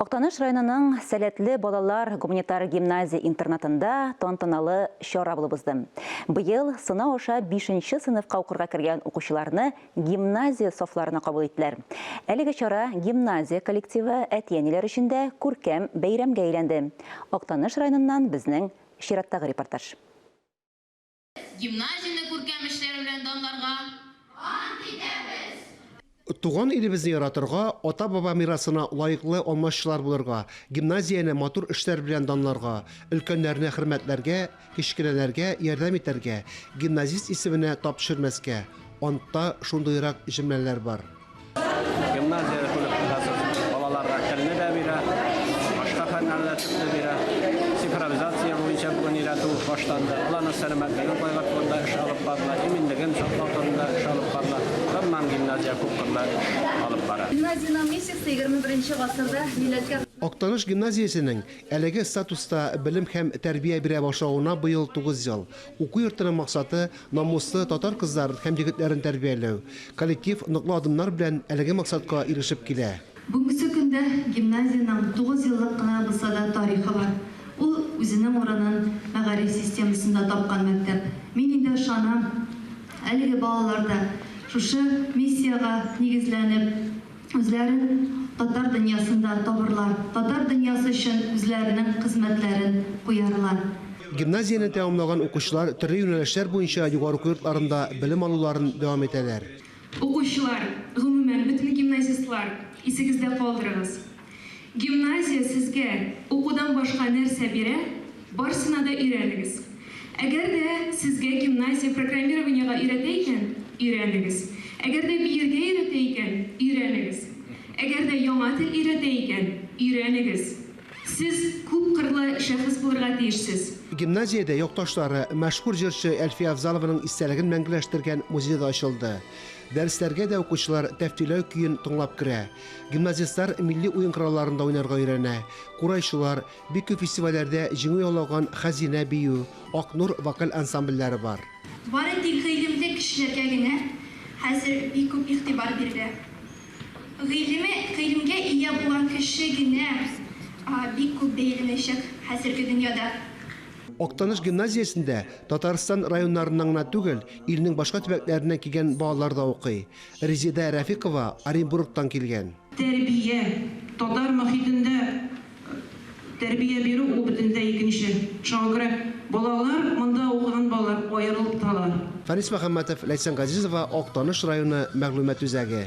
Актаныш районының Сәләтле балалар гуманитар гимназия-интернатында тантаналы чара булып узды. Быел сынау аша бишенче сыйныфка укырга кергән укучыларны гимназия сафларына кабул иттеләр. Әлеге чара гимназия коллективы, әти-әниләр өчен дә күркәм бәйрәмгә әйләнде. Актаныш районыннан безнең чираттагы репортаж. Гимназияне күркәм эшләре белән данларга. Ант итәбез! Туган илебезне яратырга, ата-баба мирасына лаеклы алмашчылар булырга, гимназияне матур эшләр белән данларга, өлкәннәрне хөрмәтләргә, кечкенәләргә ярдәм итәргә, гимназист исеменә тап төшермәскә. Антта шундыйрак җөмләләр бар. Гимназия коллективасы балаларга телне дә бирә, башка фәннәрне дә бирә. Цифровизация буенча бүген өйрәтү башланды. Аларның сәламәтлеген кайгырту турында эш алып барыла, иминлеген саклау турында эш алып барыла. Гомумән, гимназия күпкырлы эш алып бара. Гимназиянең миссиясе егерме беренче гасырда милләткә. Актаныш гимназиясенең әлеге статуста белем һәм тәрбия бирә башлавына быел тугыз ел. Уку йортының максаты, намуслы татар кызларын һәм егетләрен тәрбияләү. Коллектив ныклы адымнар белән әлеге максатка ирешеп килә. Бүгенге көндә гимназиянең тугыз еллык кына булса да тарихы бар. Ул үзенең урынын мәгариф системасында тапкан мәктәп. Мин инде ышанам, әлеге балалар да шушы миссиягә нигезләнеп, үзләрен татар дөньясында табырлар, татар дөньясы өчен үзләренең хезмәтләрен куярлар. Гимназияне тәмамлаган укучылар төрле юнәлешләр буенча югары уку йортларында белем алуларын дәвам итәләр. Укучылар, гомумән, бөтен гимназистлар, исегездә калдырыгыз, Гимназия сезгә укудан башка нәрсә бирә, барсына да өйрәнегез. Әгәр дә сезгә гимназия программированиегә өйрәтә икән, өйрәнегез. Әгәр дә биергә өйрәтә икән, өйрәнегез. Әгәр дә яңа тел өйрәтә икән, өйрәнегез. Сез күп кырлы шәхес булырга тиешсез. Гимназиядә якташлары, мәшһүр җырчы Әлфия Авзалованың истәлеген мәңгеләштергән музей да ачылды. Дәресләргә дә укучылар Тәфтиләү көен тыңлап керә. Гимназистлар милли уен коралларында уйнарга өйрәнә. Курайчылар, бик күп фестивальләрдә җиңү яулаган Хәзинә бию, Ак нур вокаль ансамбльләре бар. Бары тик гыйлемле кешеләргә генә хәзер бик күп игътибар бирелә. Гыйлеме, гыйлемгә ия булган кеше генә бик күп бәяләнәчәк хәзерге дөньяда. Актаныш гимназиясендә Татарстан районнарыннан гына түгел, илнең башка төбәкләреннән килгән балалар да укый. Резеда Рәфикова Оренбургтан килгән. Тәрбия, татар мохитендә тәрбия бирү ул бөтенләй икенче. Шуңа күрә балалар, монда укыган балалар аерылып торалар. Фәнис Мөхәммәтов, Ләйсән Газизова, Актаныш районы мәгълүмат үзәге.